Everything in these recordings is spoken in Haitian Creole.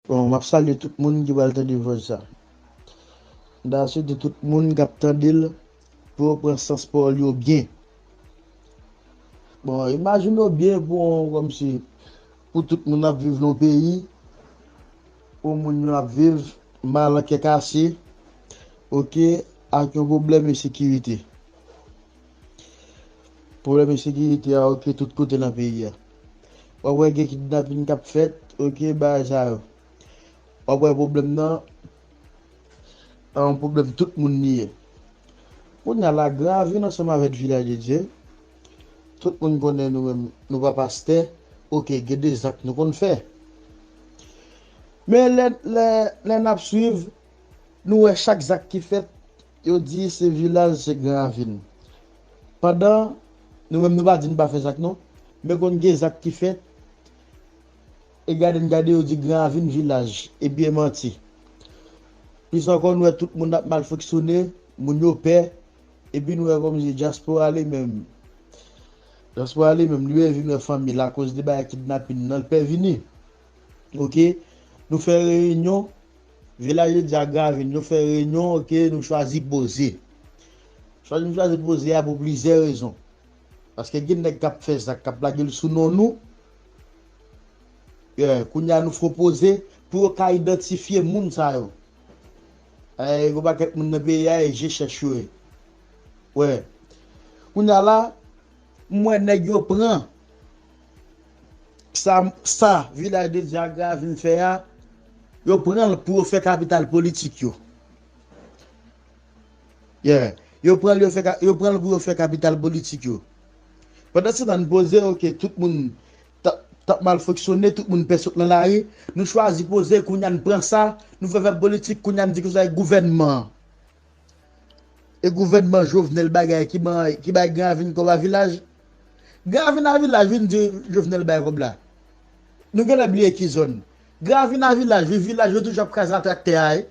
Bon map salye tout moun ki pral tande vòs sa. M ta swete tout moun kap tandel pou yo pran sans pawòl yo byen. Bon imajine w byen pou yon kòmsi pou tout moun ap viv nan yon peyi pou moun yo ap viv mal an kè kase ok ak yon pwoblèm ensekirite. Pwoblèm ensekirite a okipe tout kote nan peyi a. W ap wè gen kidnapin k ap fèt, ok, bagay sa yo. W ap wè pwoblèm nan pa yon pwoblèm tout moun li ye. Kounye a, Lagranvil ansanm avèk Vilaj de Dye, tout moun konnen nou menm nou pa pastè, ok, gen de zak nou konn fè. Men lè n ap swiv, nou wè chak zak ki fèt. Yo di se vilaj se gran ravin. Pandan Nou menm Nou pa di Nou pa fè zak non men konn gen zak ki fèt e gade n gade yo di gran ravin vilaj epi e manti plis ankò nou wè tout moun ap mal fonksyone moun yo pè epi nou wè kòmsi dyaspora li menm dyaspora li menm li wè vin wè fanmi l akoz de bagay kidnapin nan l pè vini ok nou fè reyinyon. Villageois di a Gavin nou fè reyinyon ok nou chwazi poze. Chwazi nou chwazi poze a pou plizyè rezon. Paske gen nèg kap fè zak kap lage l sou non nou. Yeah kounye a nou fon poze pou yo ka idantifye moun sa yo. Ayy yon pakèt moun nan peyi a e je chèch yo ye. Wè kounye a la m wè nèg yo pran. Sa sa vilaj de dyagra a vin fè a yo pran l pou yo fè kapital politik yo yeah yo pran l yo fè yo pran l pou yo fè kapital politik yo pandansetan n poze yo ke tout moun tap tap mal fonksyone tout moun pè sot nan lari nou chwazi poze kounye a n pran sa nou fè fè politik kounye a n di kisa ak gouvènman an. E gouvènman Jovenel bagay ki bay Gran Ravin kòb a vilaj? Gran Ravin a vilaj vin di Jovenel bay kòb la. Nou genlè bliye ki zòn. Gran Ravin a vilaj wi, vilaj yo toujou ap kraze a traktè a wi.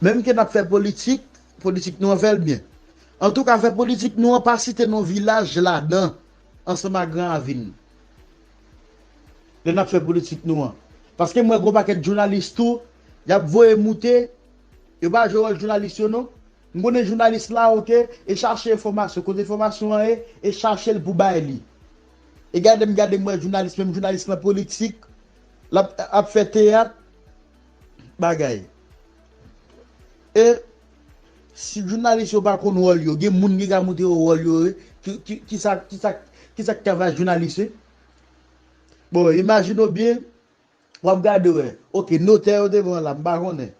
Menm ke nap fè politik, politik nou an fèl byen. Antouka fè politik nou an pa site non vilaj ladan ansanm ak Gran Ravin. lè nap fè politik nou an paske m wè gon pakèt jounalis tou yap voye moute yo pa jwe wòl jounalis yo non m konnen jounalis la ok e chache enfòmasyon kote enfòmasyon an ye e chachel pou bay li e gade m gade m wè jounalis menm jounalis lan politik lap ap fè teyat bagay e. Si jounalis yo pa konn wòl yo gen moun ki ka montre yo wòl yo ye kisa kisa kisa ki ka fè jounalis ye bon imajine w byen wap gade wè ok notè yo te pran la m pa konnen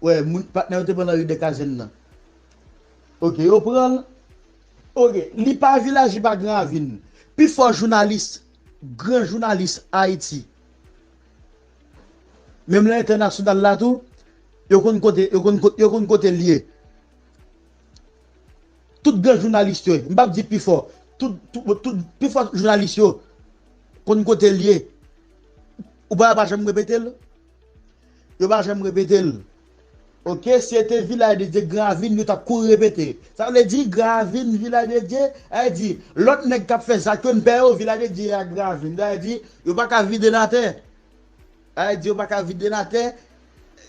wè moun patnè yo te pran nan ri dèkazèn nan ok yo pran l ok li pa vilaj li pa gran ravin pi fò jounalis gran jounalis ayiti menm nan entènasyonal la tou Yo konn kote yo konn yo konn kotel ye tout gran jounalis yo m pap di pifò tout tout pifò jounalis yo konn kotel ye ou pa wè yo pa janm repetel yo pa janm repetel ok si yo te vilaj de dye gran ravin yo tap kouri repete sa vle di gran ravin vilaj de dye sa vle di lòt nèg kap fè zak yo n pè yo vilaj de dye ak gran ravin sa vle di yo paka videl atè. Bagay di yo pa ka vide l atè,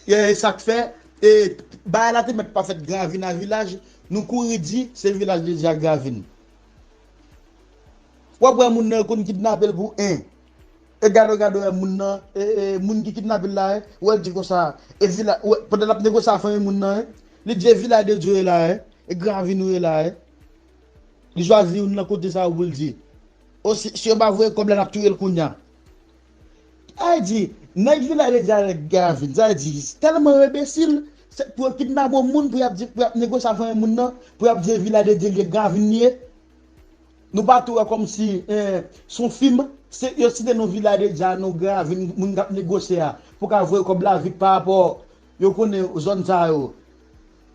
e sa k fè e bagay la te mèt pa fèt Gravin a Vilaj, nou kouri di se Vilaj li di a Gravin. W ap wè moun nan yo konn kidnape l pou 1, e gadò gadò wè moun nan, e moun ki kidnape l la e, w wè l di konsa e Vila, w wè pandan l ap negosye a fanmi moun nan e, li di e Vilaj de Dyo e la e, e Gravin ou e la e. Li chwazi youn nan kote sa yo pou l di, o si yo pa voye kòb la n ap touye l kounya. Sa vle di, nèg vilaj de Dyal nèg Gravil, sa vle di, tèlman yo enbesil, se pou yo kidnape yon moun pou y ap di, pou y ap negosye ak fanmi moun nan, pou y ap di e vilaj de Dye li ye, Gravil li ye. Nou pa tou wè kòmsi se yon fim, se yo site non vilaj de Dya, non Gravil, moun k ap negosye a pou ka voye kòb la vit pa rapò yo konnen zòn sa yo.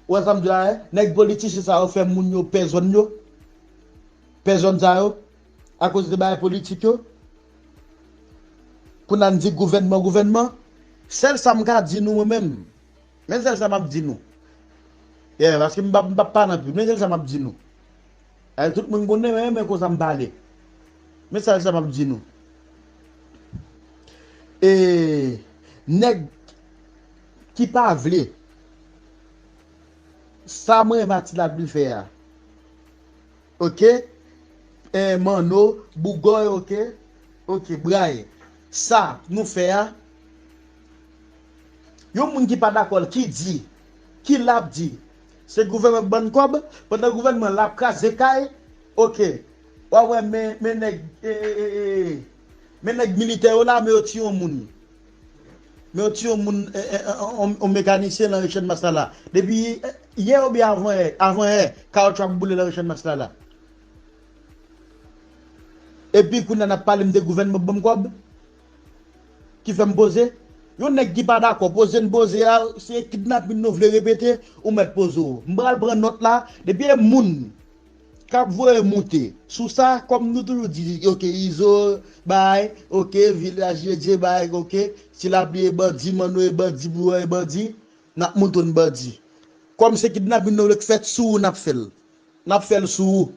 Ou wè sa m di la e? Nèg politichen sa yo fè moun yo pè zòn yo, pè zòn sa yo. Akoz de bagay politik yo. Pou nan di gouvènman gouvènman. Sèl sa m ka di nou mwen menm. Men sèl sa m ap di nou. Yè paske m pa pa nan pi. Men sèl sa m ap di nou. Ayè tout moun konnen mwen renmen konsa m pale. Men sèl sa m ap di nou. E nèg ki pa vle. Sa mwen Mathieu Labille fè a. Ok eh manno bougòy ok ok bgay sa nou fè a yon moun ki pa dakòl ki di ki lap di se gouvèman k bann kòb pandan gouvèman lap kraze kay ok wa wè men men nèg eh eh eh men nèg militè yo la men yo ti yon moun. Men yon ti yon moun yon mekanisyen nan ri channmas la la depi yè oubyen avan yè avan yè kawoutchou ap boule nan ri channmas la la epi kounya nap pale mnde gouvènman k banm kòb ki fèm poze yon nèg ki pa dakò poze n poze a se kidnapin nou vle repete ou mèt poze w mpral pran nòt la depi e moun kap voye moute sou sa kòm nou toujou di ok izo bay ok vil la jedje bay ok si lapli e bandi manno e bandi bouan e bandi nap mouton bandi kòm se kidnapin nou vle k fèt sou ou nap fèl nap fèl sou ou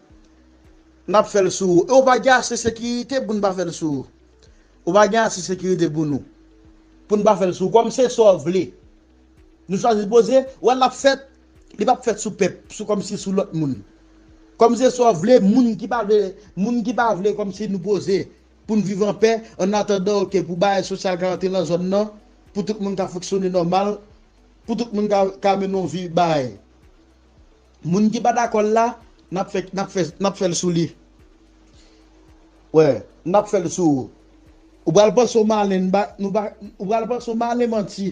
nap fèl sou ou e ou pa gen ase sekirite poun pa fèl sou ou ou pa gen ase sekirite pou nou poun pa fèl sou ou kòm se sa w vle nou chwazi poze wè lap fèt Li pap fèt sou pèp, sou kòmsi sou lòt moun. Kòmnsesaw vle moun ki pa vle moun ki pa vle kòmsi nou poze pou n viv an pè an atandan ok pou bagay sosyal ka rantre nan zòn nan pou tout moun ka fonksyone nòmal pou tout moun ka mennen yon vi bay moun ki pa dakò l la nap fè nap fè nap fè l sou li wè nap fè l sou ou ou pral panse w malen n ba nou pa ou pral panse w malen manti.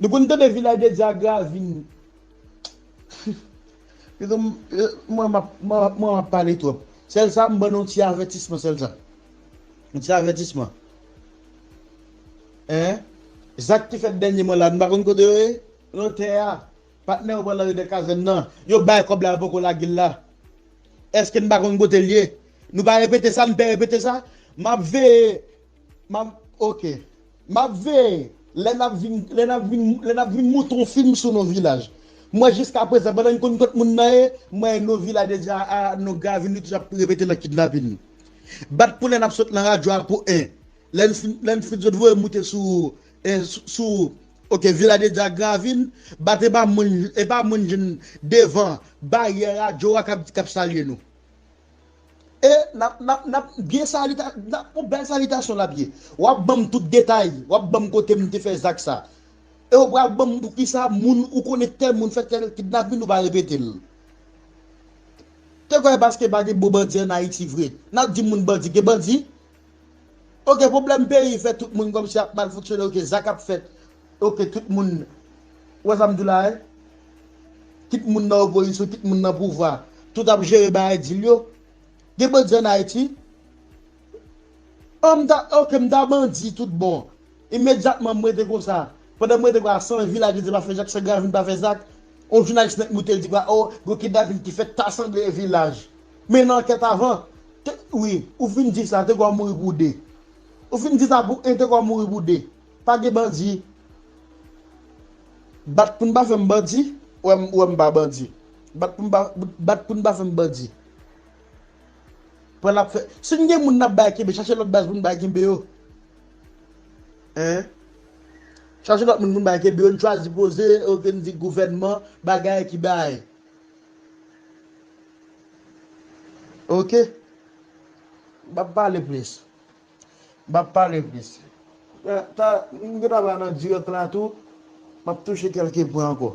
Nou konn tande vilaj de dyagra vin Pito m mwen mwen ap pale twòp Sèl sa m ban nou yon ti avètisman sèl sa Yon ti avètisman Hein Zak ki fèt dènyèman la nou pa konn kote yo ye Lotè a Patnè yo pran nan Ridè Kazèn nan Yo bay kòb la yo poko lage l la Èske n pa konn kote l ye Nou pa repete sa n pè repete sa M ap veye Map ok Map veye lè nap vin lè nap vin lè nap vin montre yon film sou no vilaj mwen jiska prezan pandan mkonn kot moun nan ye mwen wè no vilaj deja a no gravin li toujou ap repete nan kidnapin bat pou lè nap sot nan radyo a pou 1 lèn fin lèn fin sot voye moute sou e sou ok vilaj deja a gravin bat epa moun epa moun jwenn devan baryè radyo a kap salye nou E nap nap nap byen salita nap pou bèl salitasyon lap ye wap banm tout detay wap banm kotem te fè zak sa e ou pral banm poukisa moun ou konnen tèl moun fè tèl kidnapin ou pa repetel te kwè paske pa gen bon bandi an ayiti vre nap di moun bandi gen bandi Ok problem peyi fè tout moun komsi ap mal fonksyone ok sa kap fèt ok tout moun ou wè sam diw la hein kit moun nan opozisyon kit moun nan pouvwa tout ap jere bagay dil yo gen bandi an ayiti oh mta ok mta bandi tout bon. Imedyatman m rete konsa. Pandan m rete konsa, san vi la ki di pa fè zak, san Gavin pa fè zak, yon jounalis nèt moute l di konsa, oh, gen yon kidnapin ki fèt, ta sanble e vilaj. Men nan ankèt avan, te, wi, ou fin di sa, te konn mouri pou de. Ou fin di sa pou 1, te konn mouri pou 2. Pa gen bandi. Bat pou n pa fè m bandi, wè m, wè m pa bandi. Bat pou n pa, bat pou n pa fè m bandi. Pran n ap fè, si n gen moun n ap bay kenbe, chache lòt baz pou n bay kenbe yo. Hein? Chache lot moun pou nou bay kenbe yo, nou chwazi poze ok nou di gouvènman bagay ki bay. Ok. M pap pale plis. M pap pale plis. Mwen ta mwen ta pale nan dirèk la tou. M ap touche kelke pwen anko.